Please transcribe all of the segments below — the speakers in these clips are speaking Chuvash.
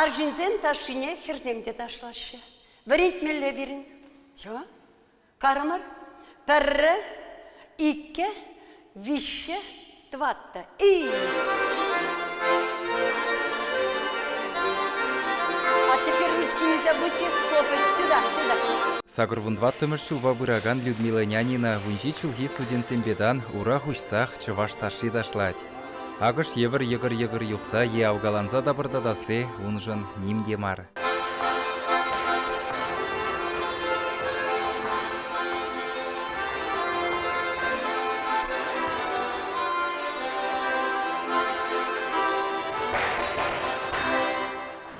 Арҫынсен ташшине хӗрсем те ташлаҫҫӗ. Вӗрентмелле пирӗн. Ҫо, карӑмӑр. Пӗрре, иккӗ, виҫҫе, тӑватта. И! А теперь ручки нельзя выйти, хлопать. Сюда, сюда. Сакӑр вун тӑваттӑмӗш ҫулпа пыракан Людмила Нянина вун ҫич ҫулхи студентсемпе тан ура хуҫсах чӑваш ташши ташлать. Акӑш евӗр йӑкӑр-йӑкӑр юхса е авкаланса тапӑртатасси уншӑн ним те мар.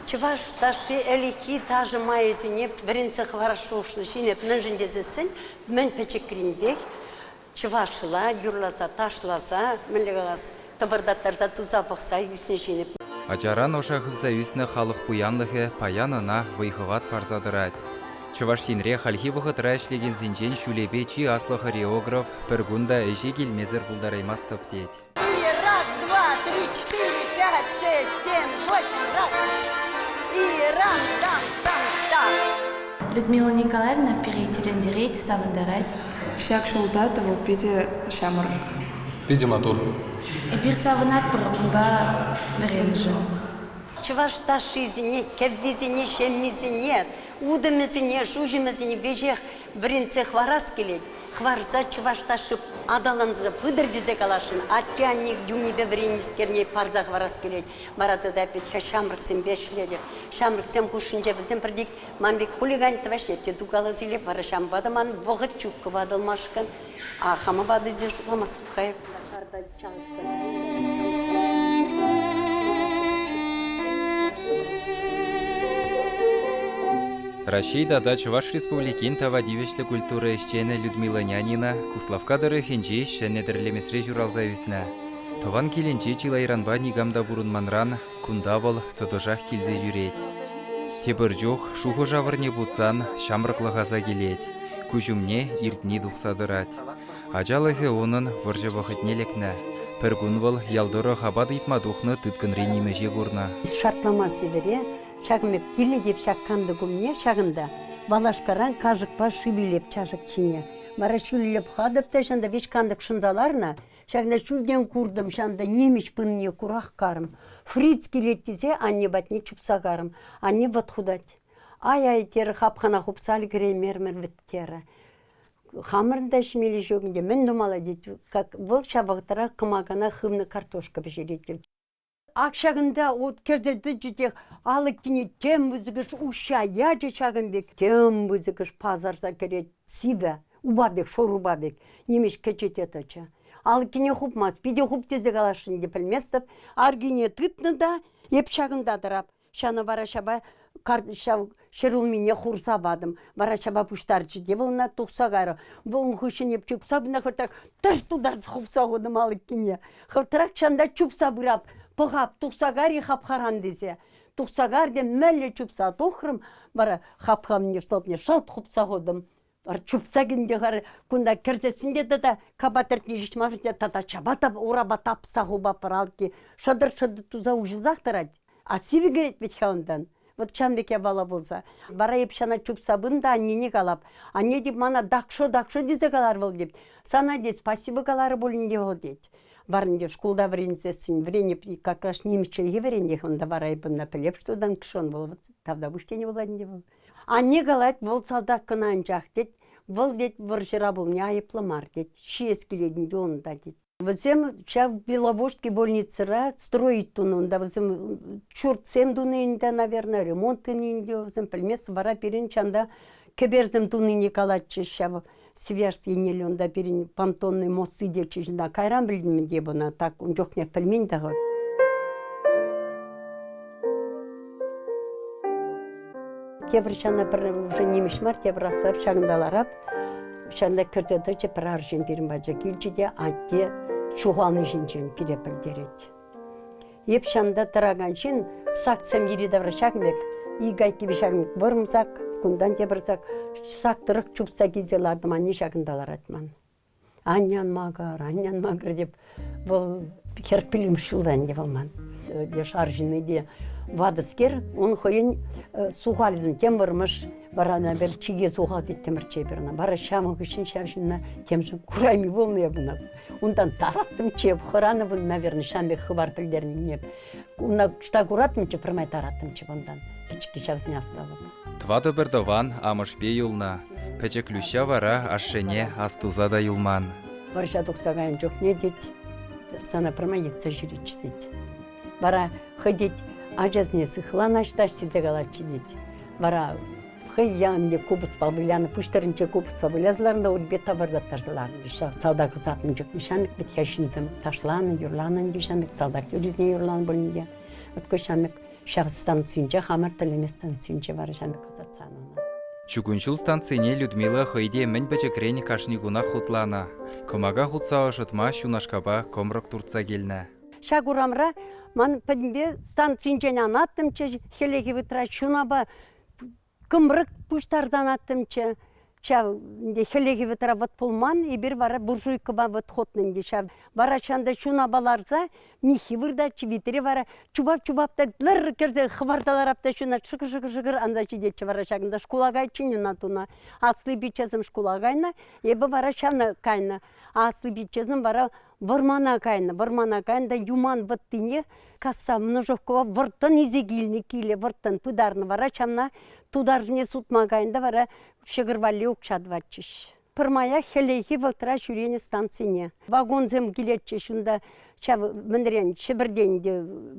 Чӑваш ташши ӗлӗкхи ташӑ майӗсене вӗрентсе хӑварас шухӑшлӑ ҫын эп мӗншӗн тесессӗн мӗн пӗчӗкринпех чӑвашла юрласа-ташласа, мӗнле калас, тӑпӑртаттарса туса пӑхса ӳснӗ ҫинӗп. Ачаран ӑша хывса ӳснӗ халӑх пуянлӑхӗ паян ӑна вӑй-хӑват парса тӑрать. Чӑваш Енре хальхи вӑхӑтра ӗҫлекенсенчен ҫулӗпе чи аслӑ хореограф пӗр кун та ӗҫе килмесӗр пултараймастӑп тет. И раз, два, три, четыре, пять, шесть, семь, восемь, раз. И рам, дам, дам, дам. Людмила Николаевна пире тӗлӗнтерет, савӑнтарать. Ҫак ҫулта тӑвӑл питӗ ҫамрӑк. Питӗ матур. Эпир савӑнатпӑр унпа вӗреншӗн. Чӑваш ташшисене, кӗввисене, ҫеммисене, утӑмӗсене, шуҫӑмӗсене веҫех вӗрентсе хӑварас килет. хӑварса чӑваш ташши аталансӑр пытӑр тесе каласшӑн. Атте-анне юнӗпе вӗреннӗскерне парса хӑварас килет. Вара тата Петька ҫамрӑксемпе ӗҫлетӗп. Ҫамрӑксем хушшинче вӗсем пӗртик ман пек хулиган тӑваҫ эп те тукалас илет. Вара ҫавӑнпа та ман вӑхӑт ҫук кӑвакӑлмашкӑн. А хамӑн ватӑсем шутламастӑп-ха эп. Раҫҫей тата Чӑваш Республикин тава тивӗҫлӗ культура ӗҫченӗ Людмила Нянина Куславкка тӑрӑхӗнчи ҫӗнӗ тӗрлемесре ҫуралса ӳснӗ. Тӑван килӗнче чылайранпа никам та пурӑнманран кунта вӑл тӑтӑшах килсе ҫӳрет. Тепӗр чух шухӑш-авӑрне путсан ҫамрӑклӑх аса килет, куҫ умне иртни тухса тӑрать. Ачалӑхӗ унӑн вӑрҫӑ вӑхӑтне лекнӗ. Пӗр кун вӑл ял тӑрӑх апат ыйтма тухнӑ тыткӑнри нимӗҫе курнӑ. Шартлама сивӗре ҫакӑн пек килет-и ҫак кантӑк умне, ҫакӑнта валашкаран кашӑкпа шӳллеп чашӑк чӗнӗ. Вара ҫӳллеп хатӑп та ҫанта виҫ кантӑк шӑнса ларнӑ. Ҫакна чунтен куртӑм ҫанта нимӗҫ пыннине курах карӑм. Фриц килет тесе анне патне чупса карӑм. Анне вӑт хутать. Ай-ай, терӗ хапхана хупса ӗлкӗреймерӗмӗр вӗт терӗ. Хамӑрӑн та ҫимелли ҫук ӗнтӗ. Мӗн тумалла тет. Как вӑл ҫав вӑхӑтра кӑмакана хывнӑ картошка пӗҫерет тет. Ак ҫакӑнта вот кӗрсе тӑчӗ те алӑккине тем пысӑкӑш уҫҫа ячӗ ҫакӑн пек. Тем пысӑкӑш пасарса кӗрет. Сивӗ, упа пек, шурупа пек. Нимӗҫ кӗчӗ те тӑчӗ. Алӑккине хупмасть. Питӗ хуп тесе каласшӑн те пӗлместӗп. Аркине тытнӑ та эп ҫакӑнта тӑрап. Ҫавна вара ҫапа ҫав ҫӗр улмине хурса патӑм. Вара ҫапа пуҫтарчӗ те вӑл ӑна тухса кайрӗ. Вӑл ун хыҫҫӑн эп чупса пынӑ хӑртрах тӑш тутарчӗ хупса хутӑм алӑккине. Хӑртрах чанда чупса пырап, пӑхап, тухса кар-и хапхаран тесе. Тухса кар те мӗнле чупса тухрӑм, вара хапхамне сӑлтне шӑлт хупса хутӑм. чупса килнӗ хар кунта кӗрсессин те тата капа тӗртни ҫеҫ мар тата чапа та урапа тапса хуба пӑралки шӑтӑр-шӑтӑр туса уҫӑлсах тӑрать а сивӗ кӗрет вӗт-ха унтан вот ҫавӑн пек япала пулса вара эп ҫана чупса пын та аннене калап анне тет мана дакшо дакшо тесе калар вӑл тет сана тет спасибо каларӗ пулин те вӑл тет Варӑн те шкулта вӗренсессӗн вӗренеп как раз нимӗҫ чӗлхи вӗренех унта вара эп ӑна пӗлеп что dann schon вӑл тавтапуҫ тенӗ пулать ӗнтӗ вӑл Анне калать, вӑл салтак кӑна анчах тет. Вӑл тет, вӑрҫӑра пулни айӑплӑ мар тет. Ҫиес килет ӗнтӗ унта тет. Вӗсем ҫав Беловодский больницӑра строить тунӑ унта. Вӗсем ҫуртсем тунӑ ӗнтӗ, наверное, ремонт тунӑ ӗнтӗ. Вӗсем пӗлмест. Вара пирӗн чанда кӗперсем тунине калатчӗҫ ҫав. Связь еннелле унта пирӗн понтонный мост сидетчӗ ҫынна кайран пӗлтӗм те бына так ун чухне пӗлмен та-ха. Тепӗр ҫана пӗр уже нимӗҫ мар тепӗр асфальт ҫакӑнта ларап ҫанта кӗрсе тӑчӗ пӗр арҫын пирӗн пача килчӗ те атте ҫухални ҫинчен пире пӗлтерет. Эп ҫамта тӑракан ҫын саксем йӗри-тавра ҫакӑн пек, ик айккипе ҫакӑн пек вӑрӑмсак, кунтан тепӗр сак, сак тӑрӑх чупса килсе лартӑм, анне ҫакӑнта ларать ман. Анне ан макӑр, анне ан макӑр теп. Вӑл хӗрӗх пӳлӗм ҫулта ӗнтӗ вӑл ман. Леш арҫынни те ватӑскер, ун хӑйӗн сухалӗсем тем вӑрмӑш, вара ӑна пӗр чике сухал теттӗмӗр чей пӗр ӑна. Вара ҫамӑк хыҫҫӑн ҫав ҫынна темшӗн курайми пулнӑ эп ӑна. Унтан тараттӑм чеп, хӑранӑ, наверное, ҫавӑн пек хыпар пӗлтернине. Унта ӑҫта куратӑмччӗ, пӗрмай тараттӑмччӗ унтан. Пӗчӗкки ҫавсене астӑвӑп. Тӑватӑ пӗр тӑван амӑшпе юлнӑ. Пӗчӗк Люҫҫа вара ашшӗне астуса та юлман. Вӑрҫа тухса кайнӑ чухне, тет, сана пӗрмай йӑтса ҫӳреччӗ, тет. Вара хӑй, тет, ачасене сыхланаҫ та тесе калатчӗ, тет. Вара хӑй янӑ купӑспа вылянӑ пуҫтарӑнче купӑспа выляса ларнӑ унпе тӑвӑртаттарса ларнӑ ҫав салтак ӑсатнӑ чухне ҫамрӑк вӗт-ха ҫынсем ташланӑ юрланӑ ӗнтӗ ҫамрӑк салтак юррисене юрланӑ пулин те вот ку ҫамрӑк ҫак станцинче хамӑр тӗллеме станцинче вара ҫамрӑк ӑсатсан ӑна Чугун ҫул станцине Людмила хӑй те мӗн пӗчӗкрен кашни кунах хутланӑ. Кӑмака хутса ӑшӑтма ҫунашкапа кӑмрӑк туртса килнӗ. Ҫак урамра ман пӗтӗмпе станцинчен анаттӑмччӗ, хӗллехи вытра ҫунапа кӑмрӑк пуҫтарсан аттӑмччӗ ҫав ӗнтӗ хӗллехи вӑтӑра вӑт пулман эпир вара буржуйкӑпа вӑт хутнӑ ӗнтӗ ҫав вара чӑн та чунапа ларса миххи выртатчӗ витре вара чупап чупап та лӗр кӗрсе хӑпарса ларап та ҫуна шӑкӑр шӑкӑр шӑкӑр анса ҫитетчӗ вара ҫакӑнта шкула кайччен ӑна туна асли пиччесем шкула кайнӑ эпӗ вара ҫана кайнӑ асли пиччесем вара вӑрмана кайнӑ вӑрмана кайнӑ та юман вӑттине касса множовкӑпа вӑрттӑн илсе килнӗ киле вӑрттӑн пытарнӑ вара ҫавна тутарсене сутма кайнӑ та вара ҫӑкӑр валли укҫа тӑватчӗҫ пӗрмая хӗллехи вӑхӑтра ҫӳренӗ станцине вагонсем килетчӗҫ унта ҫав мӗнрен ҫӗпӗртен те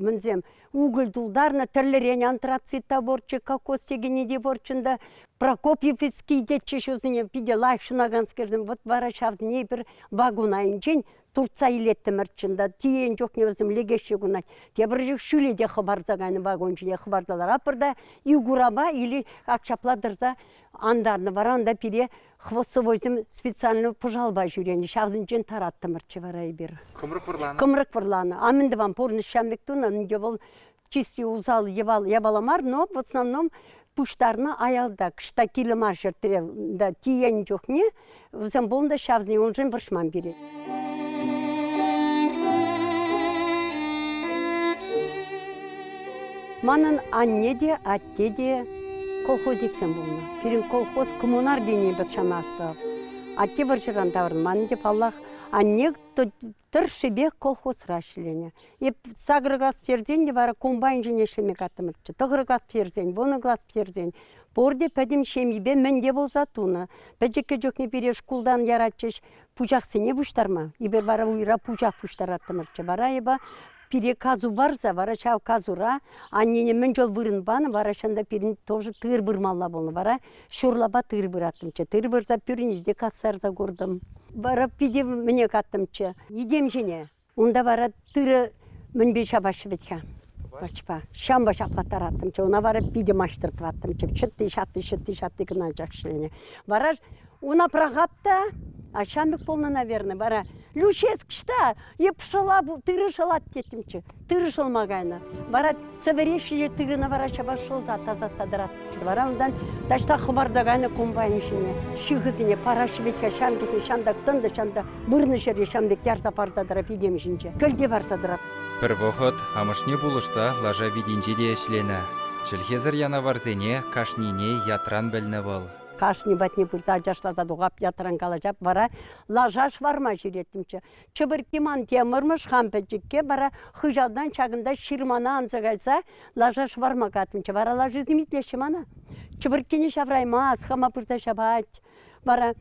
мӗнсем уголь тултарнӑ, тӗрлӗрен антрацит та пурччӗ, кокос текенни те пурччӗ та, Прокопьевский тетчӗ ҫусене питӗ лайӑх ҫунаканскерсем, вот вара ҫавсене эпир вагон айӗнчен туртса илеттӗмӗр чӑн та, тиен чухне вӗсем лекеҫҫӗ кунать. Тепӗр чух ҫӳле те хӑпарса кайнӑ вагон ҫине хӑпарталар, апӑр та Игурапа или ак ҫапла тӑрса антарнӑ, вара унта пире хвостовойсем специальный пӑшалпа ҫӳренӗ. Ҫавсенчен тараттӑмӑрччӗ вара эпир. Кӑмрӑк вӑрланӑ. Кӑмрӑк вӑрланӑ. А мӗн тӑван пурнӑҫ ҫам пек тунӑ. Ӗнтӗ вӑл чисти усал япала мар, но в основном пуҫтарнӑ аялта кӑҫта килӗ мар ҫӗртре тиенӗ чухне вӗсем пулнӑ ҫавсене уншӑн вӑрҫман пире. Манӑн анне те, Тете колхозниксем пулнӑ. Пирӗн колхоз коммунар тени пӑтшанастӑп. Атте вӑрҫӑран таврӑнман ӗнтӗ, паллах. Анне тӑршшӗпех колхозра ӗҫленӗ. Эп сакӑр класс пӗтерсен те вара комбайншӑн ӗҫлеме каттӑмӑрччӗ. Тӑхӑр класс пӗтерсен, вунӑ класс пӗтерсен пурте пӗтӗм ҫемйипе мӗнте пулса тунӑ. Пӗчӗккӗ чухне пире шкултан яратчӗҫ пучахсене пуҫтарма. Эпир вара уйра пучах пуҫтараттӑмӑрччӗ. Вара эпӗ Пире касу барса вара ҫав касура аннене мӗн чул вырӑн панӑ вара ҫында пирӗн тоже тыр вырмалла пулнӑ вара ҫурлапа тыр выраттӑмччӗ тыр вырса пӳрне те кассарса куртӑм. Вара питӗ мӗне каттӑмччӗ йӗтем ҫине. Унта вара тырӑ мӗнпе ҫапаҫҫӗ вӗт-ха? Пӑчпа. Ҫампа ҫаклаттараттӑмччӗ, ӑна вара питӗ маҫтӑртваттӑмччӗ. Чӑтти-ҫатти, чӑтти-ҫатти кӑна чакшиленӗ. Вара Уна пӑрахап та, а ҫамрӑк пулнӑ, наверное, вара Люческ та эп шӑла, тырӑ шӑлать теттӗмччӗ, тырӑ шӑлма кайнӑ. Вара сӗвӗреҫҫӗ те тырӑна вара ҫапа шӑлса тасатса тӑратчӗ. Вара унтан таҫта хӑпарса кайнӑ комбайн ҫине, ҫыхӑсене параҫҫӗ вӗт-ха ҫамрӑкне ҫантӑк тӑнӑ, ҫантӑк вырнӑ ҫӗре ҫам пек ярса парса тӑрать витем ҫинче, кӗлте парса тӑрать. Пӗр вӑхӑт амӑшне пулӑшса лаша витинче те ӗҫленӗ. Чӗлхесӗр янаварсене кашнине ятран пӗлнӗ вӑл. Кашни патне пырса ачашласа тухап, ятран калаҫап, вара лаша шварма ҫӳреттӗмччӗ. Чӗпӗркки ман темӑрмӑш хам пӗчӗкке вара хыҫалтан ҫакӑнта ҫырмана анса кайса лаша шварма катнӑччӗ. Вара лашисем итлеҫҫӗ мана. Чӗпӗрккене ҫавраймасть, хама пырса ҫапать. Вара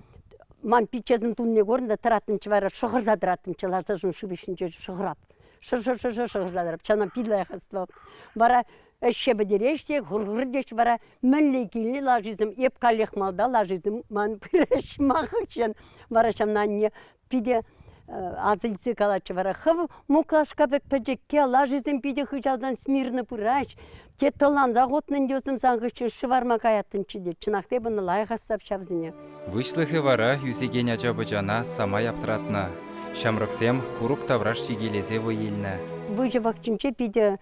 ман пиччесӗн тунне курнӑ та тӑраттӑмччӗ вара шӑхӑрса тӑраттӑмччӗ лашасен шыв ҫинче шӑхӑрап. Шӑр-шӑр-шӑр-шӑр шӑхӑрса тӑрап, чана пил лайӑх астӑвап. Вара ӗҫе пӗтереҫ те хурдеш вара мӗнле килни лашисем эп каллех малта лашисем ман пыраҫ махӑччен вара ҫавна анне питӗ асилсе калатчӗ вара хӑв муклашка пек пӗчӗкке лашисем питӗ хыҫалтан смирно пыраҫ те тӑлансах утнӑн тесем сан хыҫҫӑн шӑварма каяттӑмччӗ те чӑнах та эпӗ лайӑх асап ҫавсене выҫлӑхӗ вара ӳсекен ача-пӑчана самай аптратнӑ ҫамрӑксем курӑк тавраш ҫикелесе вӑй илнӗ выҫӑ пахчинче питӗ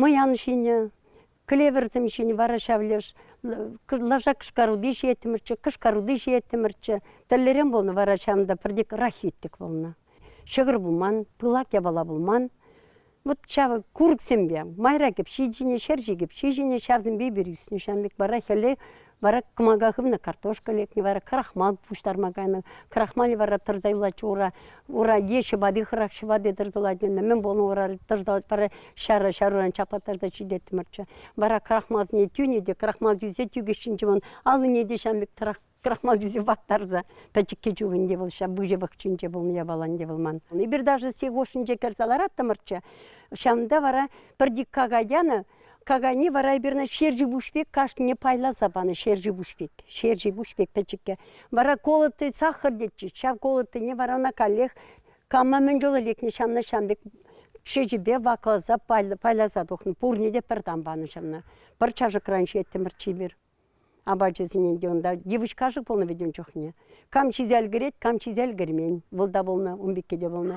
мӑян ҫинӗ, клеверсем ҫинӗ вара ҫав леш лаша кӑшкаруди ҫиеттӗмӗрччӗ, кӑшкаруди ҫиеттӗмӗрччӗ. Тӗллерен пулнӑ вара ҫавӑнта пӗртек рахитик пулнӑ. Ҫӑкӑр пулман, пылак япала пулман. Вот ҫавӑ курӑксемпе майра кӗпҫи ҫинӗ, ҫерҫи кӗпҫи ҫинӗ, ҫавсемпе пир ӳснӗ. Ҫавӑн пек вара хӗле Вара кӑмака хывнӑ картошка лекнӗ, вара крахмал пуҫтарма кайнӑ. Крахмале вара тӑрса юлать ура. Ура е ҫӑпати хӑрах ҫӑпати тӑрса юлать. Мӗн пулнӑ ура тӑрса юлать, вара ҫара ҫаруран чаплаттарса ҫитеттӗмӗрччӗ. Вара крахмалсене тӳнӗ те крахмал тӳсе тӳкеҫҫинче вон аллине те ҫам пек крахмал тӳсе ваттарса пӗчӗкке чухенде вӑл ҫав выҫӑ пахчинче пулнӑ япаланде вӑл ман. Эпир даже сек ушӗнче кӗрсе лараттӑмӑрччӗ. Ҫавӑнта вара пӗр дикка ятанӑ Кагани вара эпирне ҫерчи пек кашнине пайласа панӑ ҫерчи пек. Ҫерчи пек пӗчӗккӗ. Вара колотый сахар тетчӗ. Ҫав колотыйне вара ӑна каллех кама мӗн чулу лекнӗ ҫавна ҫам пек ҫечӗпе вакласа пайласа тухнӑ. Пурне те пӗр тан панӑ ҫавна. Пӗр чашӑкран ҫиеттӗмӗр чипер. Апачӗсене те унта девочка-ши пулнӑ вӗт ун чухне. Кам ҫисе ӗлкӗрет, кам ҫисе ӗлкӗрмен. Вӑл та пулнӑ, ун пекки те пулнӑ.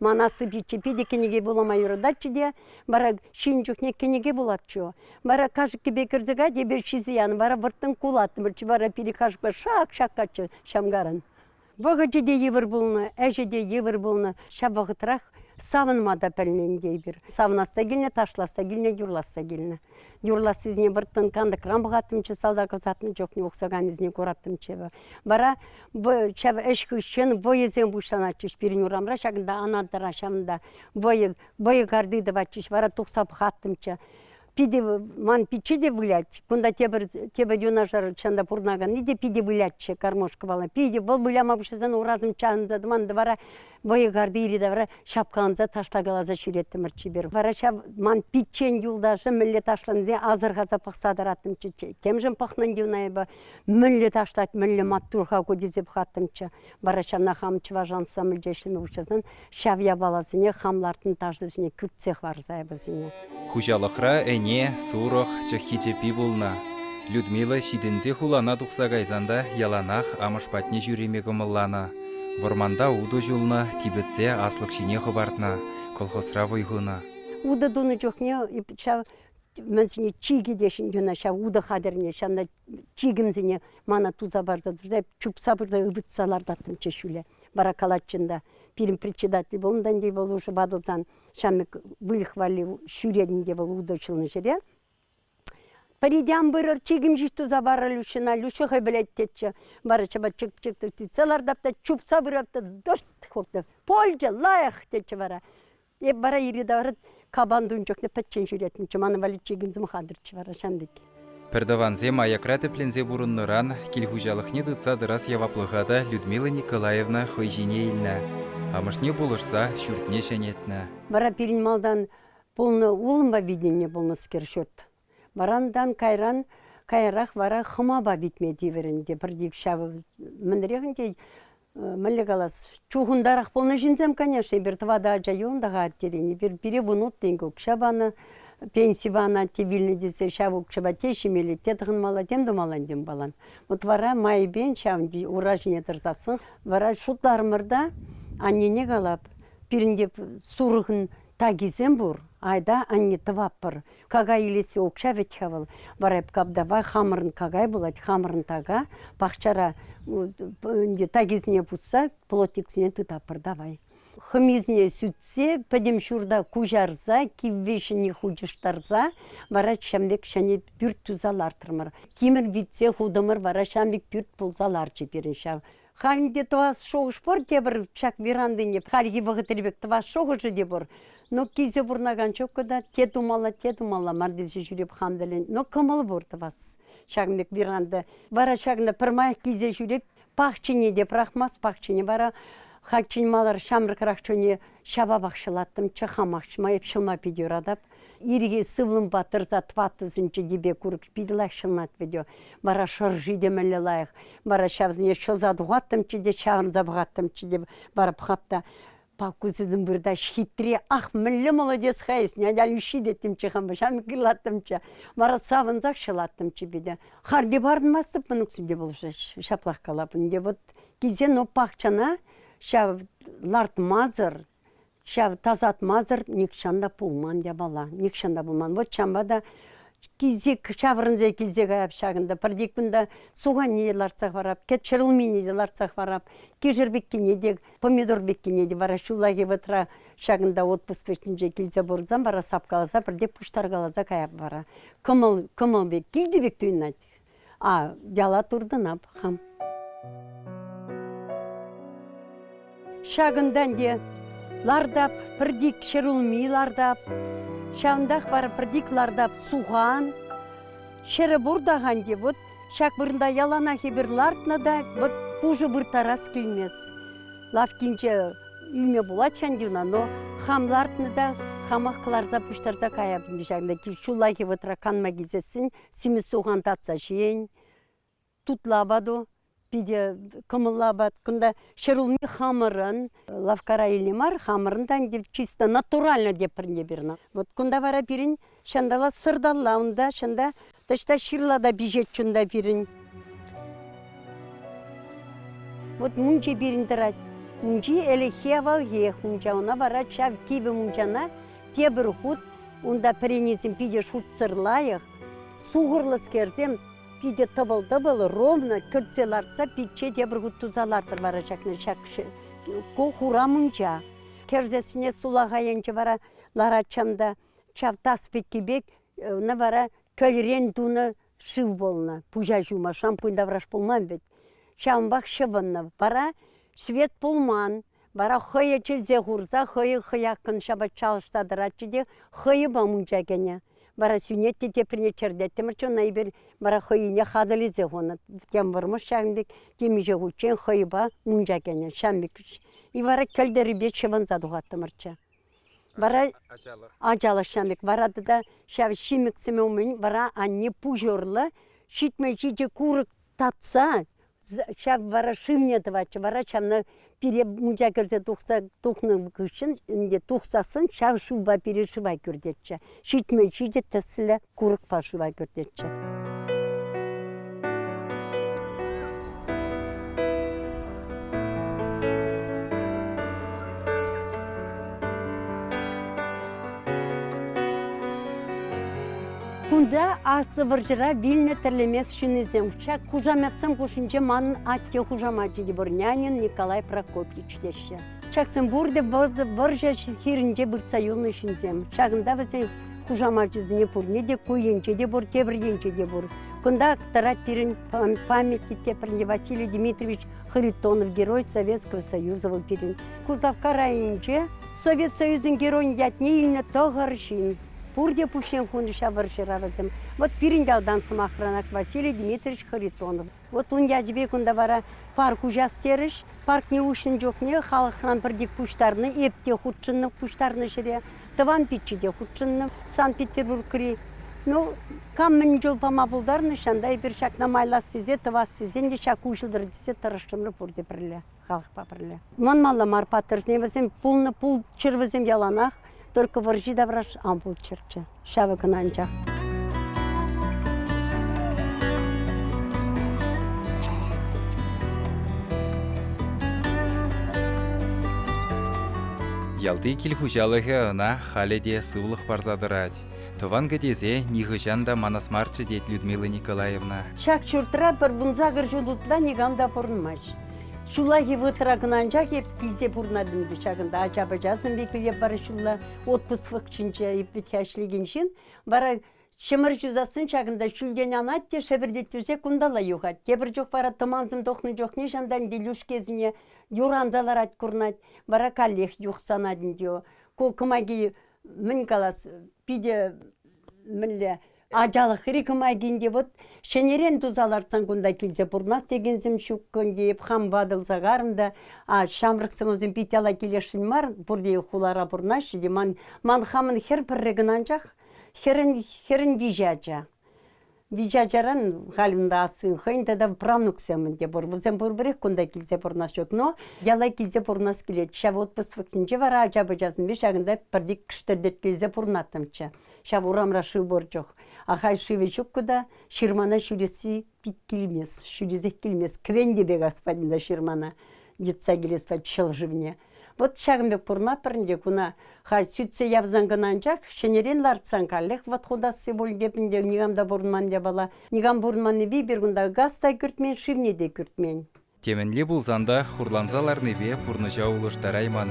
Ман аслӑ пичче питӗ кӗнеке вулама юрататчӗ те, вара ҫын чухне кӗнеке вулатчӗ. Вара кашӑккипе кӗрсе кать, эпир ҫисе янӑ, вара вӑрттӑн кулаттӑмӑрччӗ, вара пире кашӑкпа шак-шак каччӑ ҫамкаран. Вӑхӑчӗ те йывӑр пулнӑ, ӗҫӗ те йывӑр пулнӑ. Ҫав вӑхӑтрах савӑнма та пӗлнӗ ӗнтӗ эпир. Савӑнасса килнӗ, ташласса килнӗ, юрласса килнӗ. Юрлассисене вӑрттӑн кантӑкран пӑхаттӑмччӗ, салтак ӑсатнӑ чухне ухсаканӗсене кураттӑмччӗ. Вара ҫав ӗҫ хыҫҫӑн вӑйӑсем пуҫланатчӗҫ пирӗн урамра. Ҫакӑнта анатӑра ҫавӑнта вӑйӑ, вӑйӑ карти тӑватчӗҫ. Вара тухса пӑхаттӑмччӗ. питӗ ман пичче те вылять. Кунта тепӗр тепӗр юнашар чӑн та пурӑнаканни те питӗ вылятчӗ кормушкӑпала. Питӗ вӑл выляма пуҫласан урасым чавӑнса тӑман вара вӑйӑхарти йӗри-тавра ҫапкаланса ташлакаласа ҫӳреттӗмӗр чипер. Вара ҫав ман пиччен юлташӗ мӗнле ташлансе асӑрхаса пӑхса тӑраттӑмччӗ. Темшӗн пӑхнӑн те ун айӑпа мӗнле ташлать, мӗнле маттур-ха ку тесе пӑхаттӑмччӗ. Вара ҫавна хам чӑваш ансамбльте ӗҫлеме пуҫласан ҫав япаласене хам лартнӑ ташӑсене кӳртсе хӑварса вӗсене. Хуҫалӑхра ӗне, сурӑх, чӑххи чӗппи пулнӑ. Людмила ҫитӗнсе хулана тухса кайсан та яланах амӑш патне ҫӳреме кӑмӑлланӑ. Вӑрманта утӑ ҫулнӑ, типӗтсе аслӑк ҫине хӑпартнӑ, колхозра вӑй хунӑ. Утӑ тунӑ чухне ҫав мӗн сине чикӗ те ҫын юна ҫав утӑ хатӗрне ҫавна чикӗмсене мана туса парса турса чупса пырса ывӑтса лартаттӑмччӗ ҫӳле. Вара калатчӗ та пирӗн председатель вӑл унтан те вӑл уже ватӑлсан ҫамрӑк выльӑх валли ҫӳретӗн те вӑл утӑҫланӑ ҫӗре. Пӗритен пырӑр, чикӗм ҫеҫ туса парӑр Люшина, Люша хӑй пӗлет тетчӗ. Вара чӑпа чӑк-чӑк тытса лартап та чупса пырап та дошт хуртӑ. Польча лайӑх тетчӗ вара. Эп вара йӗри-тавра капан тун чухне пӗччен ҫӳретӗнчӗ. Ман валли чикен сӑмахантӑрччӗ вара ҫантӑк. Пӗртӑвансем аякра тӗпленсе пурӑннӑран кил хуҫалӑхне тытса тӑрас яваплӑха та Людмила Николаевна хӑй ҫине илнӗ. Амӑшне пулӑшса ҫуртне ҫӗнетнӗ. Вара пирӗн малтан пулнӑ улӑмпа витӗннӗ пулнӑскер ҫурт. Варантан кайран каярах вара хӑмапа витме тиврӗ ӗнтӗ. Пӗр тик ҫавӑ мӗнрех ӗнтӗ мӗнле калас чухӑнтарах пулнӑ ҫынсем, конечно. Эпир тӑватӑ ача юлнӑ-ха аттерен. Эпир пире вунут тенкӗ укҫа панӑ, пенси панӑ атте вилнӗ тесе ҫав укҫапа те ҫимелле, те тӑхӑнмалла, тем тумалла, тем палан. Вот вара майӗпен ҫав ура ҫине тӑрсассӑн вара шутларӑмӑр та аннене калап, пирӗнте сурӑхӑн такисем пур, айта анне тӑваппӑр. Какай илесси укҫа вӗт-ха вӑл. Вара эп капдапа хамӑрӑн какай пулать, хамӑрӑн така, пахчара ӗнтӗ такисене пусса плотниксене тытатпӑр давай. Хӑмисене сӳтсе, пӗтӗм ҫурта куҫарса, кивве ҫӗне хучӑштарса вара ҫамрӑк ҫӗнӗ пӳрт туса лартрӑмӑр. Тимӗр витсе хутӑмӑр вара ҫамрӑк пӳрт пулса ларчӗ пирӗн ҫав Халь ӗнтӗ тӑвас шухӑш пур те пӗр ҫак верандине хальхи вӑхӑтри пек тӑвас шухӑшӗ те пур. Но килсе пурӑнакан чокка та те тумалла, те тумалла мар тесе ҫӳреп хам тӗлен. Но кӑмӑл пур тӑвас ҫакӑн пек веранда. Вара ҫакна пӗрмаях килсе ҫӳреп пахчине те пӑрахмас, пахчине вара хальччен малар ҫамрӑкрах чухне ҫапапах ҫӑлаттӑм, чӑхамах ҫӑма, эп ҫӑлма питӗ юратап. Ирӗке сывлӑмпа тӑрса тӑваттӑ сӗнчӗ йӗпе курӑк питӗ лайӑх ҫӑлнать вӗт вара шӑрши те мӗнле лайӑх вара ҫавсене ҫӑлса тухаттӑмччӗ те ҫавӑрса пӑхаттӑмччӗ те вара пӑхап та палку сисӗм выртаҫ хитре ах мӗнле молодец-ха эс нянялющи деттимччӗ хампа ҫам кырлаттӑмччӗ вара савӑнсах ҫӑлаттӑмччӗ пите харди парӑнмастӑп мӑнуксем те пулӑшаҫ ҫаплах калапӑн те вот кисен пахчана ҫав лартмасӑр Ҫав тасатмасӑр нихҫан та пулман япала. Нихҫан та пулман. Вот ҫавӑнпа та кисек ҫаврӑнса килсе каяп ҫакӑнта. Пӗртен кунта суханне те лартса хӑварап, кӗт ҫӗрулмине те лартса хӑварап, кишӗр пеккине те, помидор пеккине те. Вара ҫуллахи вӑхӑтра ҫакӑнта отпуск вӗҫӗнче килсе пурӑнсан вара сапкаласа пӗртен пуҫтаркаласа каяп вара. Кӑмӑл, кӑмӑл пек, килти пек туйӑнать. А яла туртӑна пӑхам. Ҫакӑнтан те лартап, пӗртик ҫӗр улми лартап, ҫавӑнтах вара пӗртик лартап сухан. Ҫӗрӗ пур та ханти, вот ҫак вырӑнта яланах эпир лартнӑ та, вот пушӑ вырттарас килмест. Лавккинче ӳме пулать ханти уна, но хам лартнӑ та хамах кӑларса пуҫтарса каяп ӗнтӗ ҫакна ҫуллахи вӑтра канма килсессӗн симӗс сухан татса ҫийӗн тутла апату питӗ кӑмӑллӑ апат. Кунта ҫӗр улми хамӑрӑн лавккара илнӗ мар, хамӑрӑн та ӗнтӗ чисто натурально тепӗрне пирӗн. Вот кунта вара пирӗн ҫанталла сӑрталла унта, чӑнта таҫта ҫырла та пиҫет чунта пирӗн. Вот мунча пирӗн тӑрать. Мунчи ӗлӗкхи авалхиех мунча, ӑна вара ҫав кивӗ мунчана тепӗр хут унта пӗренесем питӗ шутсӑр лайӑх, сухӑрлӑскерсем питӗ тӑпӑл-тӑпӑл ровно кӗртсе лартса пичче тепӗр хут туса лартӑр вара ҫакна ҫак хура мунча. Кӗрсессине сулаха енче вара ларатчам та ҫав тас пекки пек ӑна вара кӗлрен тунӑ шыв пулнӑ пуҫа ҫума шампунь тавраш пулман вӗт. Ҫавӑнпах ҫӑвӑннӑ. Вара свет пулман. Вара хӑйӗ чӗнсе хурса хӑйӗ хӑяккӑн ҫапӑҫса ӑсса тӑратчӗ те хӑйӑпа мунча кӗнӗ. Вара сӳнет те теприне чӗртеттӗмӗрччӗ, ӑна эпир вара хӑйне хатӗрлесе хунӑ. Тем вӑрмӑш ҫавӑн пек темиҫе хутчен хӑйӑпа мунча кӗнӗ ҫам пек. И вара кӗлтӗрипе ҫӑвӑнса тухаттӑмӑрччӗ. Вара ачалӑх ҫам пек. Вара тата ҫав ҫимӗк сӗмӗ умӗн вара анне пуҫ урлӑ ҫитмӗл ҫичӗ курӑк татса ҫав вара шывне тӑватчӗ вара ҫавна пире мунча кӗрсе тухса тухнӑ хыҫҫӑн ӗнтӗ тухсассӑн ҫав шывпа пире шыва кӳртетчӗ ҫитмӗл ҫитӗ тӗслӗ курӑкпа шыва кӳртетчӗ. Кунта Аслӑ вӑрҫӑра вилнӗ тӗрлемес ҫыннисем ҫак хушаметсем хушшинче манӑн атте хушамачӗ Деборнянин Николай Прокопьевич теҫҫӗ. Ҫаксем пурте вӑрҫӑ хирӗнче выртса юлнӑ ҫынсем. Ҫакӑнта вӗсен хушамачӗсене пурне те ку енче те пур, тепӗр енче те пур. Кунта тӑрать пирӗн памятник тепринче Василий Дмитриевич Харитонов герой Советского Союза вӑл пирӗн. Куславкка районӗнче Совет Союзӗн Геройӗн ятне илнӗ тӑхӑр ҫын. Пурте пуҫне хунӑ-ҫа вӑрҫӑравӗсем. Вӑт пирӗн ялтан, сӑмахранах, Василий Дмитриевич Харитонов. Вӑт ун ячӗпе кунта вара парк уҫас терӗҫ. Паркне уҫнӑ чухне халӑхран пӗртик пуҫтарнӑ, эп те хутшӑннӑ пуҫтарнӑ ҫӗре, тӑван пичче те хутшӑннӑ Санкт-Петербургри. Ну, кам мӗн чул пама пултарнӑ, ҫанта эпир ҫакна майлас тесе, тӑвас тесен те ҫак уҫӑлтӑр тесе тӑрӑшрӑмӑр пурте пӗрле. халӑхпа пӗрле. Манмалла мар паттӑрсене вӗсем пулнӑ пулччӑр вӗсем яланах, только вӑрҫи тавраш ан пулччӑрччӗ. Ҫавӑ кӑна анчах. Ялти кил хуҫалӑхӗ ӑна халӗ те сывлӑх парса тӑрать. Тӑван кӗтесе нихӑҫан та манас марччӗ, тет Людмила Николаевна. Ҫак ҫуртра пӗр вунсакӑр ҫул ытла никам та пурӑнмасть. Ҫуллахи вӑтӑра кӑнанчах эп килсе пурӑнатӑм ӗнтӗ ҫакӑнта ача-пӑча сӑмбикӗпе пӗр ҫулла отпуск вӑхӑтӗнче ӗппетха ӗҫлекен ҫын вара ҫӗмӗр ҫусассӑн ҫакӑнта ҫӳлтен анать те шӗпӗртеттерсе кунталла юхать. Тепӗр чух вара тӑмансем тухнӑ чухне ҫантан Илюшкесене юранса ларать курнать. Вара каллех юхсанать ӗнтӗ. Ку кӑмаки мӗн калас, питӗ мӗнле Ачалӑхри кӑмакинче вот ҫӗнӗрен туса лартсан кунта килсе пурӑнас текенсем ҫук кунти хам ватӑлса карӑн та а ҫамрӑк сӑнӑсем пит яла килесшӗн мар пурте хулара пурӑнаҫҫӗ те ман ман хамӑн хӗр пӗрре кӑна анчах хӗрӗн хӗрӗн виҫӗ ача виҫӗ ачаран халь унта ассин хӑйӗн тата правнуксем те пур вӗсем пурпӗрех кунта килсе пурӑнас ҫук но яла килсе пурӑнас килет ҫав отпуск вӑхӑтӗнче вара ача-пӑчасемпе ҫакӑнта пӗртик кӗштӗртеткелсе пурӑнаттӑмччӗ Ҫав урамра шыв пур чух. Ахаль шывӗ ҫуккӑ та ҫырмана ҫӳресси пит килмест, ҫӳресех килмест. Кӗвенте пек аспальтинта ҫырмана йӑтса килес ҫӑл шывне. Вот ҫакӑн пек пурмаппӑр те куна халь сӳтсе явсан кӑна анчах ҫӗнӗрен лартсан каллех вот хутасси пуль тепӗн те никам та пурӑнман япала. Никам пурӑнманнипе пир кунта газ та кӳртмен, шывне те кӳртмен. Темӗнле пулсан та хурланса ларнипе пурнӑҫа улӑштарайман.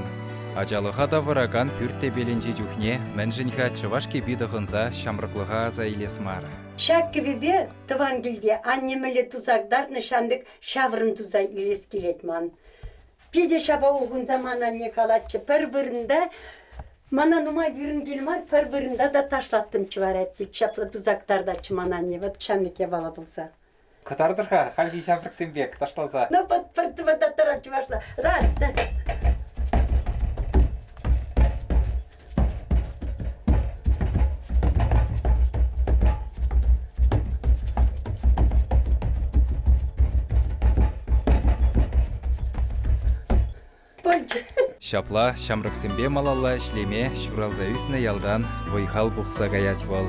Ачалӑха тавӑракан пӳрт тӗпелӗнчи чухне мӗншӗн-ха чӑваш кӗпи тӑхӑнса ҫамрӑклӑха аса илес мар? Ҫак кӗвӗпе тӑван килте анне мӗнле тусак лартнӑ ҫавӑн пек ҫаврӑн туса илес килет ман. Питӗ ҫапа ухӑнса ман анне калатчӗ, пӗр вырӑнта мана нумай вырӑн кил мар, пӗр вырӑнта та ташлаттӑм чӑварать тет. Ҫапла тусак тартатчӗ ман анне, вӑт ҫамрӑк япала пулса. Кӑтартӑр-ха хальхи ҫамрӑксем пек ташласа. Ну, вот, вот этот таран чувашла. Раз, да. Ҫапла ҫамрӑксемпе малалла ӗҫлеме ҫуралса ӳснӗ ялтан вӑй-хал пухса каять вӑл.